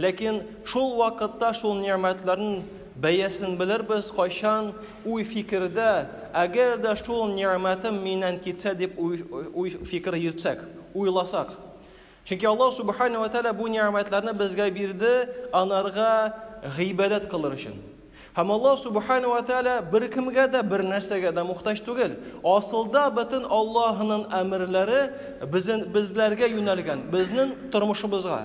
Ләкин шул вакытта шул нигъмәтләрнең бәясен белербез, кайчан уй-фикердә, әгәр дә шул нигъмәтем миннән китсә дип уй-фикер йөртсәк, уйласак. Чөнки Аллаһ Субхана ва Тәгалә бу нигъмәтләрне безгә бирде, анарга гыйбадәт кылыр өчен. Һәм Аллаһ Субхана ва Тәгалә беркемгә дә, бернәрсәгә дә мохтаҗ түгел. Асылда бөтен Аллаһының әмерләре безнең, безләргә юнәлгән, безнең тормышыбызга.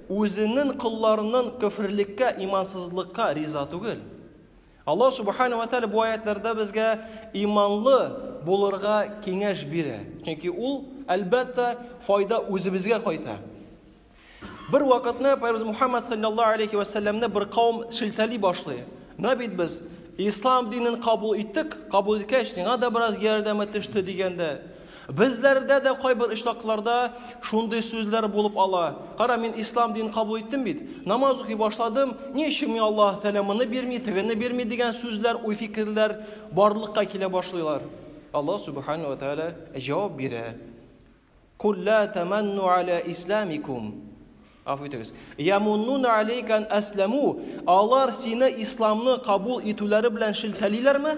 Үзенен колларынын көферлеккә, имансызлыкка риза түгел. Аллаһ Субхана ва Тәгалә бу аятьләрдә безгә иманлы булырга киңәш бирә. Чөнки ул, әлбәттә, файда үзебезгә кайта. Бер вакытны Пәйгамбер Мухаммад саллаллаһу алейхи ва саллямны бер кавым шелтәли башлый. Менә бит без ислам динен кабул иттек, кабул иткәч, сиңа да бераз ярдәме төште дигәндә, Безләрдә дә кайбер очракларда шундый сүзләр булып ала, Кара, мин ислам динен кабул иттем бит, намаз укый башладым, ни өчен миңа Аллаһ Тәгалә моны бирми, тегене бирми дигән сүзләр, уй-фикерләр барлыкка килә башлыйлар. Аллаһ Сүбхәнәһү вә Тәгалә җавап бирә, Куль лә тәмәнну галә исләмикум, гафу итегез, ямуннуна галәйкә ан әсләмү, алар сине исламны кабул итүләре белән шелтәлиләрме?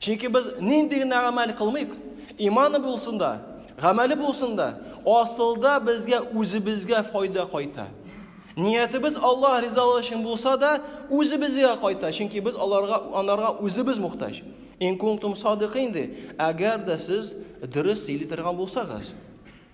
Чөнки без нинди генә гамәл кылмыйк, иманы булсын да, гамәле булсын да, асылда безгә үзебезгә файда кайта. Ниятебез Аллаһ ризалыгы өчен булса да, үзебезгә кайта, чөнки без аларга анарга үзебез мохтаҗ. Ин кунтум садыйкин ди, әгәр дә сез дөрес сөйли торган булсагыз.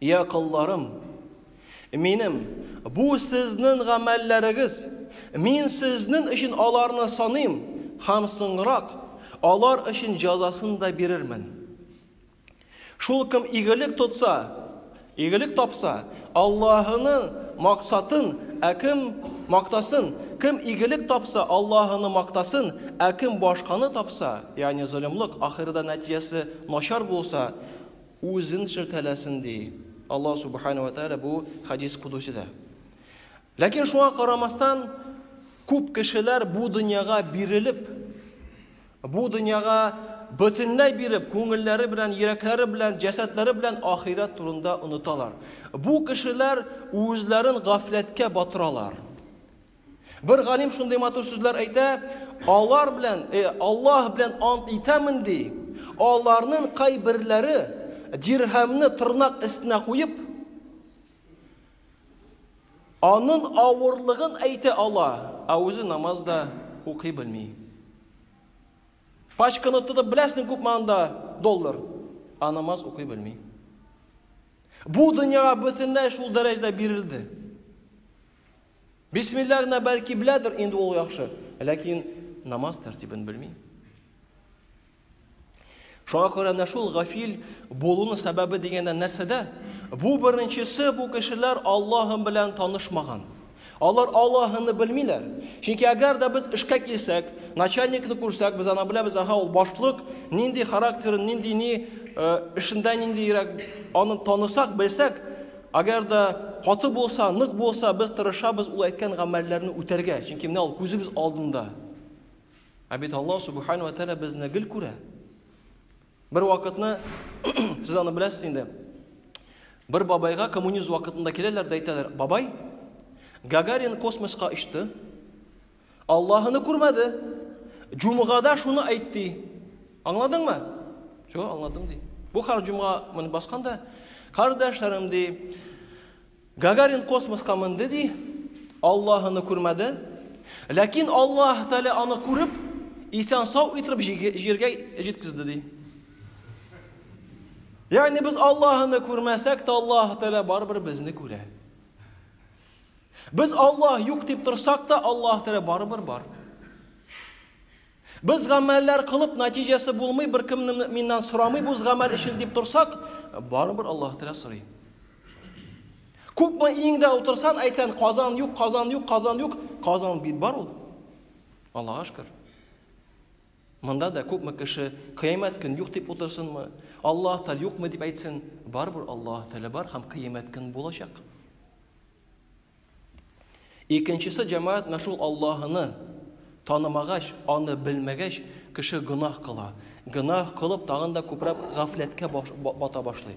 Йә, колларым, минем, бу сезнен гамәлләрегез, мин сезнен өчен аларны саныйм, һәм соңрак алар өчен җәзасын да бирермен. Шул кем игелек тотса, игелек тапса, Аллаһының максатын, ә кем мактасын, кем игелек тапса, Аллаһыны мактасын, ә кем башканы тапса, ягъни золымлык, ахирда нәтиҗәсе начар булса, Үзен шелтәләсен, ди Аллаһ Субхана ва Тәгалә бу хадис кудусида. Ләкин шуңа карамастан, күп кешеләр бу дөньяга бирелеп, бу дөньяга бөтенләй биреп, күңелләре белән, йөрәкләре белән, җәсәдләре белән ахирәт турында оныталар. Бу кешеләр үзләрен гафләткә батыралар. Бер галим шундый матур сүзләр әйтә, алар белән, э, Аллаһ белән ант итәмен ди, аларның кайберләре дирһәмне тырнак өстенә куеп, анын авырлыгын әйтә ала, ә үзе намазда укый белми. Пачканы тотып беләсең күпме анда доллар, а намаз укый белми. Бу дөньяга бөтенләй шул дәрәҗәдә бирелде. Бисмилла гына бәлки беләдер, инде ул яхшы, ләкин намаз тәртибен белми. Шуңа күрә менә шул гафил булуның сәбәбе дигәндә нәрсәдә? Бу беренчесе бу кешеләр Аллаһым белән танышмаган. Алар Аллаһыны белмиләр. Чөнки әгәр дә без эшкә килсәк, начальникны күрсәк, без аны беләбез, аха, ул башлык, нинди характер, нинди ни э, эшендә ниндирәк аны танысак, белсәк, Әгәр дә каты булса, нык булса, без тырышабыз ул әйткән гамәлләрне үтәргә, чөнки менә ул күзебез алдында. Ә бит Аллаһ субхану ва тааля безне гел күрә. Бер вакытны сез аны беләсез инде. Бер бабайга коммунизм вакытында киләләр дә әйтәләр, "Бабай, Гагарин космоска очты, Аллаһ аны күрмәде. Җумгада шуны әйт ди. Аңладыңмы? Чо, аңладым ди. Бу хар җумга моны басканда, кардәшләрем ди, Гагарин космоска менде ди, Аллаһ аны күрмәде. Ләкин Аллаһ Тәгалә аны күреп, исән сау итеп җиргә җиткезде ди. Ягъни без Аллаһны күрмәсәк тә Аллаһ Тәгалә барыбер безне күрә. Без Аллаһ юк дип торсак та, Аллаһ Тәгалә барыбер бар. Без гамәлләр кылып, нәтиҗәсе булмый, бер кем миннән сорамый бу гамәл өчен дип торсак, барыбер Аллаһ Тәгалә сорый. Күпме иңдә утырсан, әйтсән, Казан юк, Казан юк, Казан юк, Казан бит бар ул. Аллаһ шөкер. Монда да күпме кеше кыямәт көн юк дип утырсынмы? Аллаһ Тәгалә юкмы дип әйтсен? Барыбер Аллаһ Тәгалә бар һәм кыямәт көн булачак. Икенчесе җәмәгать менә шул Аллаһыны танымагач, аны белмәгәч, кеше гөнаһ кыла. Гөнаһ кылып, тагын да күбрәк гафләткә бата башлый.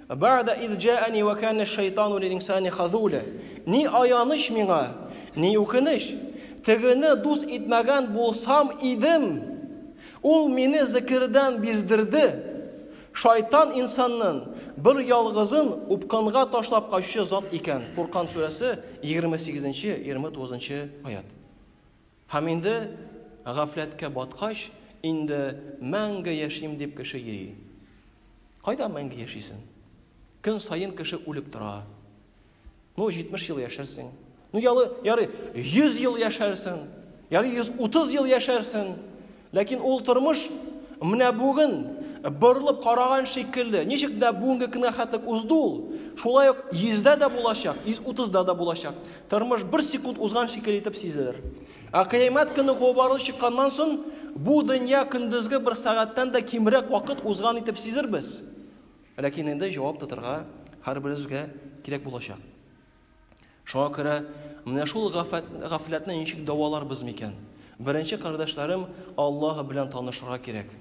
Бәгъдә из җәәни вә кәнә шәйтану лил-инсани хазуля. Ни аяныч миңа, ни үкенеч! Тегене дус итмәгән булсам идем! Ул мине зекердән биздерде! Шайтан инсаннын бер ялгызын упкынга ташлап качучы зат икән. Фуркан сүрәсе, егерме сигезенче, егерме тугызынчы аять. Һәм инде гафләткә баткач, инде мәңге яшим дип кеше йөри. Кайда мәңге яшисен? Көн саен кеше үлеп тора. Ну, 70 ел яшәрсең. Ну, ялы, ярый, 100 ел яшәрсең. Ярый, 130 ел яшәрсең. Ләкин ул тормыш менә бүген борылып караган шикелле. Ничек дә бүгенге көнгә хәтлек узды ул, шулай ук йөздә дә булачак, йөз утызда да булачак. Тормыш бер секунд узган шикелле итеп сизелер. Ә кыямәт көне кубарылып чыкканнан соң, бу дөнья көндезге бер сәгатьтән дә кимрәк вакыт узган итеп сизербез. Ләкин инде җавап тотарга һәрберебезгә кирәк булачак. Шуңа күрә менә шул гафләтне ничек дәваларбыз микән? Беренче кардәшләрем Аллаһ белән танышырга кирәк.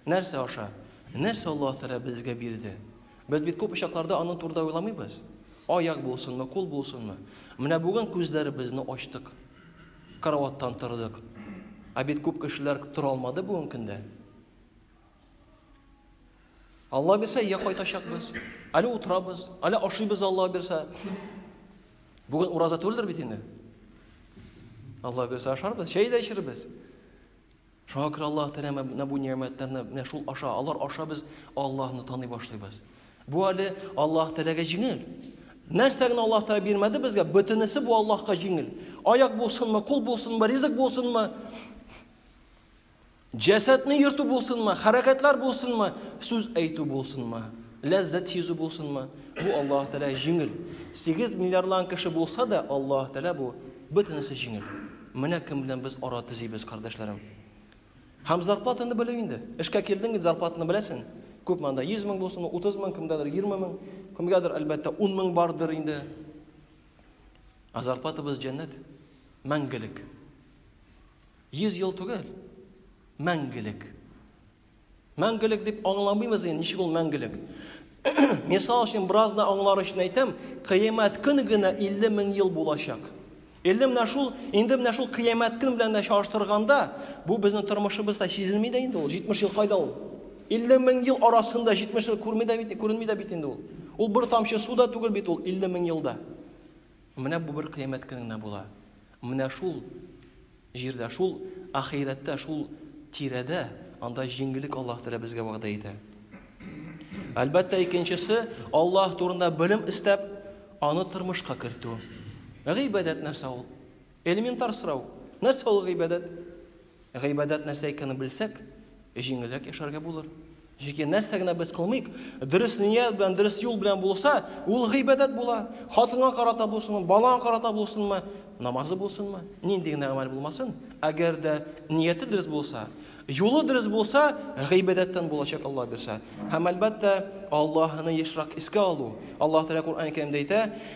Нәрсә аша? Нәрсә Аллаһ Тәгалә безгә бирде? Без бит күп очакларда аның турында уйламыйбыз. Аяк булсынмы, кул булсынмы? Менә бүген күзләребезне ачтык. Караваттан тордык. Ә бит күп кешеләр тора алмады бүгенге көндә. Алла бирсә, я кайтачакбыз, әле утырабыз, әле ашыйбыз Алла бирсә. Бүген ураза түгелдер бит инде. Алла бирсә ашарбыз, чәй дә эчербез. Шуңа күрә Аллаһ Тәгалә менә бу нигъмәтләрне менә шул аша, алар аша без Аллаһны таный башлыйбыз. Бу әле Аллаһ Тәгаләгә җиңел. Нәрсә генә Аллаһ Тәгалә бирмәде безгә, бөтенесе бу Аллаһка җиңел. Аяк булсынмы, кул булсынмы, ризык булсынмы, Җәсәдне йөртү булсынмы, хәрәкәтләр булсынмы, сүз әйтү булсынмы, ләззәт сизү булсынмы, бу Аллаһ Тәгалә җиңел. 8 миллиардлан кеше булса да, Аллаһ Тәгалә бу бөтенесе җиңел. Менә кем белән без ара төзибез, кардәшләрем. Һәм зарплатаны белү инде. Эшкә килдең, зарплатаны беләсең. Күп монда 100 мең булсын, 30 мең, кемгәдер 20 мең, кемгәдер әлбәттә 10 мең бардыр инде. Ә зарплатабыз җәннәт, мәңгелек. Йөз ел түгел, мәңгелек. Мәңгелек дип аңламыйбыз инде, ничек ул мәңгелек? Мисал өчен, бераз да аңлар өчен әйтәм, кыямәт көн генә 50 мең ел булачак. Инде менә шул, инде менә шул кыямәт көн белән дә чагыштырганда, бу безнең тормышыбызда сизелми дә инде ул. 70 ел кайда ул? 50 мең ел арасында 70 ел күрми дә бит, күренми дә бит инде ул. Ул бер тамчы су да түгел бит ул 50 мең елда. Менә бу бер кыямәт көне генә була. Менә шул җирдә, шул ахирәттә, шул тирәдә, анда җиңгелек Аллаһ Тәгалә безгә вәгъдә итә. Әлбәттә, икенчесе Аллаһ турында белем эстәп, аны тормышка кертү. Гыйбадәт нәрсә ул? Элементар сорау. Нәрсә ул гыйбадәт? Гыйбадәт нәрсә икәнен белсәк, җиңелрәк яшәргә булыр. Чөнки нәрсә генә без кылмыйк, дөрес ният белән, дөрес юл белән булса, ул гыйбадәт була. Хатынга карата булсынмы, балаңа карата булсынмы, намазы булсынмы, нинди генә гамәл булмасын, әгәр дә нияте дөрес булса, юлы дөрес булса, гыйбадәттән булачак Аллаһ бирсә. Һәм әлбәттә, Аллаһны ешрак искә алу. Аллаһ Тәгалә Куръән-Кәримдә әйтә,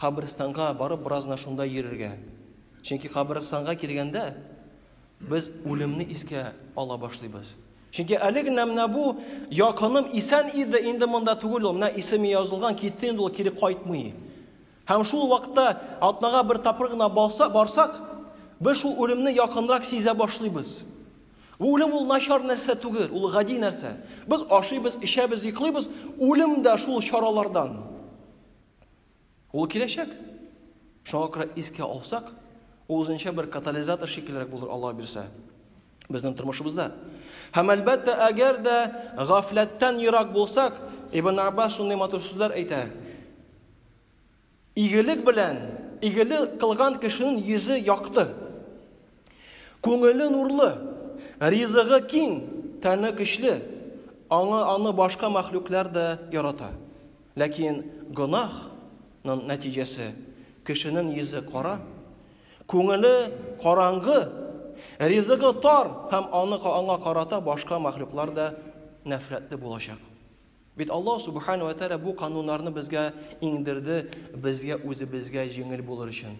Каберстанга барып бераз гына шунда йөрергә. Чөнки каберстанга килгәндә без үлемне искә ала башлыйбыз. Чөнки әле генә менә бу якыным исән иде, инде монда түгел ул, менә исеме язылган, китте инде ул, кире кайтмый. Һәм шул вакытта атнага бер тапкыр гына балса, барсак, без шул үлемне якынрак сизә башлыйбыз. Бу үлем ул начар нәрсә түгел, ул гади нәрсә. Без ашыйбыз, эчәбез, йоклыйбыз, үлем дә шул чаралардан. Ул киләчәк. Шуңа күрә искә алсак, ул үзенчә бер катализатор шикеллерәк булыр Аллаһ бирсә. Безнең тормышыбызда. Һәм әлбәттә, әгәр дә гафләттән ерак булсак, Ибн Аббас шундый матур сүзләр әйтә. Игелек белән, игелек кылган кешенең йөзе якты. Күңеле нурлы, ризыгы киң, тәне көчле, аңы аны башка мәхлуклар да ярата. Ләкин гөнаһ нын нәтиҗәсе, кешенен йөзе кара, күңеле караңгы, ризыгы тар һәм аны аңа карата башка мәхлуклар да нәфрәтле булачак. Бит Аллаһ Субхана вә Тәгалә бу кануннарны безгә иңдерде, безгә үзебезгә җиңел булыр өчен.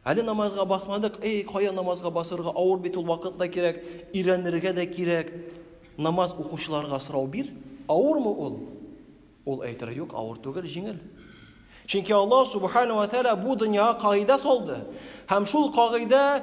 Әле намазга басмадык, эй, кая намазга басырга, авыр бит ул, вакыт та кирәк, өйрәнергә дә кирәк. Намаз укучыларга сорау бир, авырмы ул? Ул әйтер, юк, авыр түгел, җиңел. Чөнки Аллаһ субхана ва тәала бу дөньяга кагыйдә салды. Һәм шул кагыйдә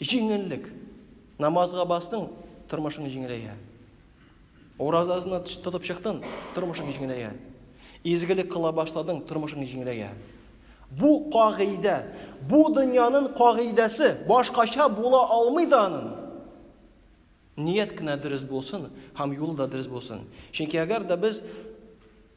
Җиңеллек. Намазга бастың, тормышың җиңеләя. Уразасына тотып чыктың, тормышың җиңеләя. Изгелек кыла башладың, тормышың җиңеләя. Бу кагыйдә, бу дөньяның кагыйдәсе, башкача була алмый да аның. Ният кенә дөрес булсын һәм юлы да дөрес булсын. Чөнки әгәр дә без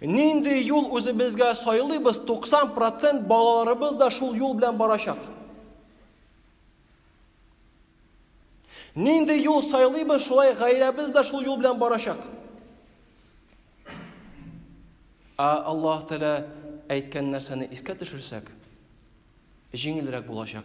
Нинди юл үзебезгә сайлыйбыз, 90 процент балаларыбыз да шул юл белән барачак. Нинди юл сайлыйбыз, шулай гаиләбез дә шул юл белән барачак. Ә Аллаһ Тәгалә әйткән нәрсәне искә төшерсәк, җиңелрәк булачак.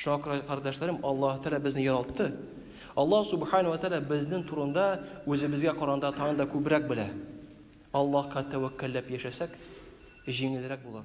Шакыр кардәшләрем, Аллаһ Тәгалә безне яралтты. Аллаһ Субхану ва Тәгалә безнең турында үзебезгә каранда тагын да күбрәк белә. Аллаһка тәвәккәлләп яшәсәк, җиңелрәк булыр.